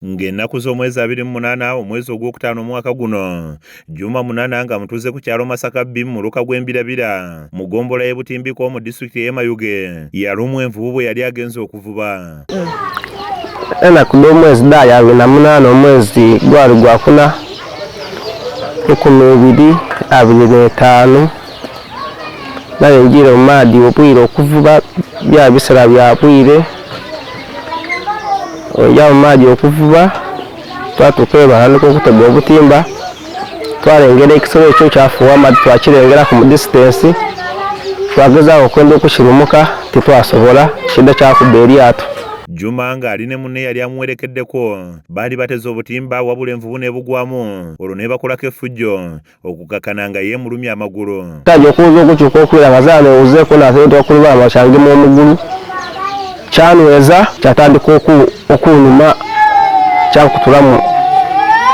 Ng'ennaku z'omwezi abiri mu munaana omwezi ogw'okutaano omwaka guno Juma Munana nga mutuuze ku kyalo Masaka B mu muluka gw'Embirabira mu ggombolola y'e Butimbiko mu disitulikiti ey'e Mayuge yalumwa envubu bwe yali agenze okuvuba. Ennaku dh'omwezi dhaali abiri na munaana omwezi gwali gwakuna rukumi ibiri abiri n'etaanu naye njire mu maadi obwire okuvuba bya bisera bya bwire oja mu maadi okuvuba twatuka ebahanika okutega obutimba twalengera ekisolo ekyo kyafuwa amaadi twakirengera ku mudisitensi twagezaako okwenda okukirumuka tetwasobola kidda kyakuba eryato Juma ng'ali ne munne yali amuwerekeddeko baali bateze obutimba wabula envubu ne bugwamu olwo ne bakolako effujjo okukakana nga yeemulumya amagulu taja okuwuza okukyuka okuwera nga zaala ewuzeeko naatendeka ku lubalama kyangema omugulu kyanweza kyatandika okunuma kyakutulamu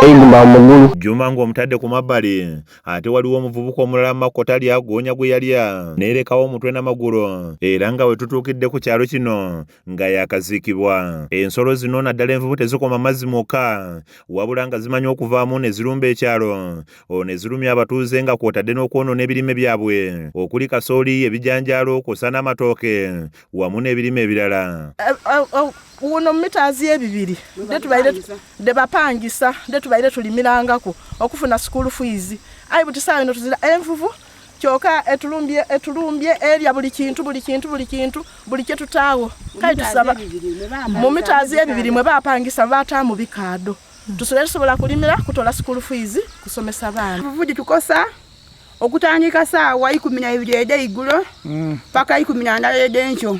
eigumba mu mugulu juma ng'omutadde ku mabbali ate waliwo omuvubuka omulala makko tali agoonya gwe yalya neerekawo omutwe n'amagulu era nga we tutuukidde ku kyalo kino nga yakazikibwa ensolo zino naddala envubu tezikoma mazzi mwokka wabula nga zimanyi okuvaamu ne zirumba ekyalo olwo ne zirumya abatuuze nga kwotadde n'okwonoona ebirime byabwe okuli kasooli ebijanjaalo kwosa n'amatooke wamu n'ebirime ebirala eh, eh, oh, uno mitazi yebibiri ndetubaire ndebapangisa ndetubaire tulimirangako okufuna school fees ayi buti saawa ino tuzira envuvu eh, kyoka etulumbye etulumbye erya buli kintu buli kintu buli kintu buli kyetutaawo kale tusaba mu mitaazi ebibiri mwe bapangisa bataamu bikaado hmm. tusula tusobola kulimira kutola school fees kusomesa baana buvuji tukosa okutandika saawa ikumi na ibiri ede igulo hmm. paka ikumi na ndala ede nkyo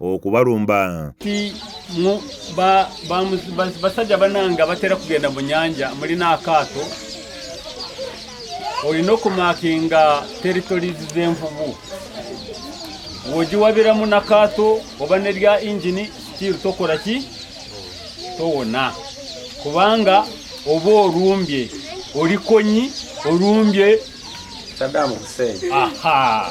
okubalumba basajja bananga batera kugenda mu nyanja mulina akaato olina okumakinga territories z'envubu wogiwabiramu nakaato oba nerya engini still tokola ki towona kubanga oba olumbye olikonyi olumbye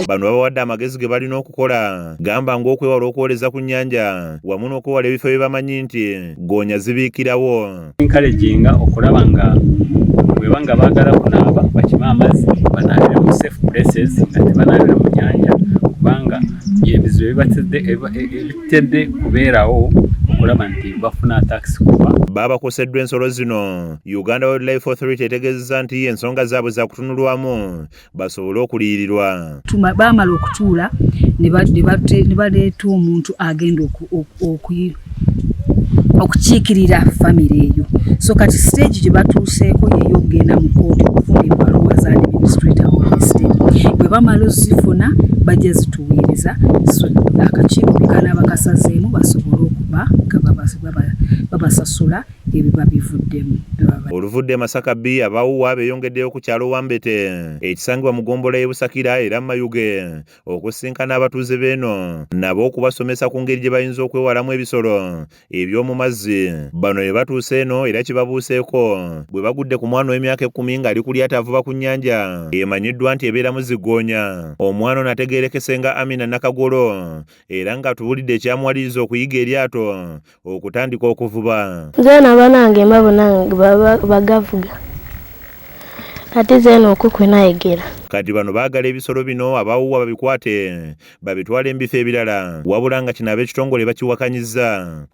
bano babawadde amagezi ge balina okukola gamba ng'okwewala okwoleza ku nnyanja wamu n'okwewala ebifo bye bamanyi nti goonya zibiikirawo enkalejinga okulaba nga bweba nga baagala kunaaba bakima amazzi banaabire mu safe places nga tebanaabire mu nyanja kubanga ebizibu ebitedde e, e, kubeerawo okulaba nti bafuna taxi kuba baabakoseddwa ensolo zino Uganda Wildlife Authority etegezeza nti ensonga zaabwe zakutunulwamu basobole okuliyirirwa. Baamala okutuula ne baleeta omuntu agenda okukiikirira famire eyo. So kati siteegi gye batuuseeko yeeyo okugenda mu kkooti okufuna ebbaluwa za administrator of the state. Bwe bamala ozifuna bajja zituweereza akakiiko ke kanaaba kasazeemu basobole okuba nga babasasula. ebiba bivuddemu baba Oluvudde e Masaka bbi abawuwa beyongeddeyo ku kyalo Wambete ekisangibwa mu ggombolola y'e Busakira era Mayuge okusisinkana abatuuze b'eno nabo okubasomesa ku ngeri gye bayinza okwewalamu ebisolo eby'omu mazzi. Bano bye batuuse eno era kibabuuseeko bwe bagudde ku mwana ow'emyaka ekkumi ng'ali ku lyato avuba ku nnyanja emanyiddwa nti ebeeramu ziggoonya. Omwana ono ategeerekese nga Amina Nakagolo era ng'atubuulidde ekyamuwaliriza okuyiga eryato okutandika okuvuba zena banange mba bonange bagavuga ate zena okukwe nayegera kati bano baagala ebisolo bino abawuwa babikwate babitwale mu bifo ebirala wabula nga kino ab'ekitongole bakiwakanyiza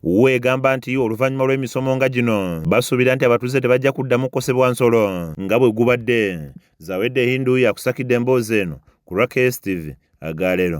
wuwa egamba nti oluvannyuma lw'emisomo nga gino basuubira nti abatuuze tebajja kuddamu kukosebwa nsolo nga bwe gubadde zawedde hindu yakusakidde emboozi eno ku rakstv agaalero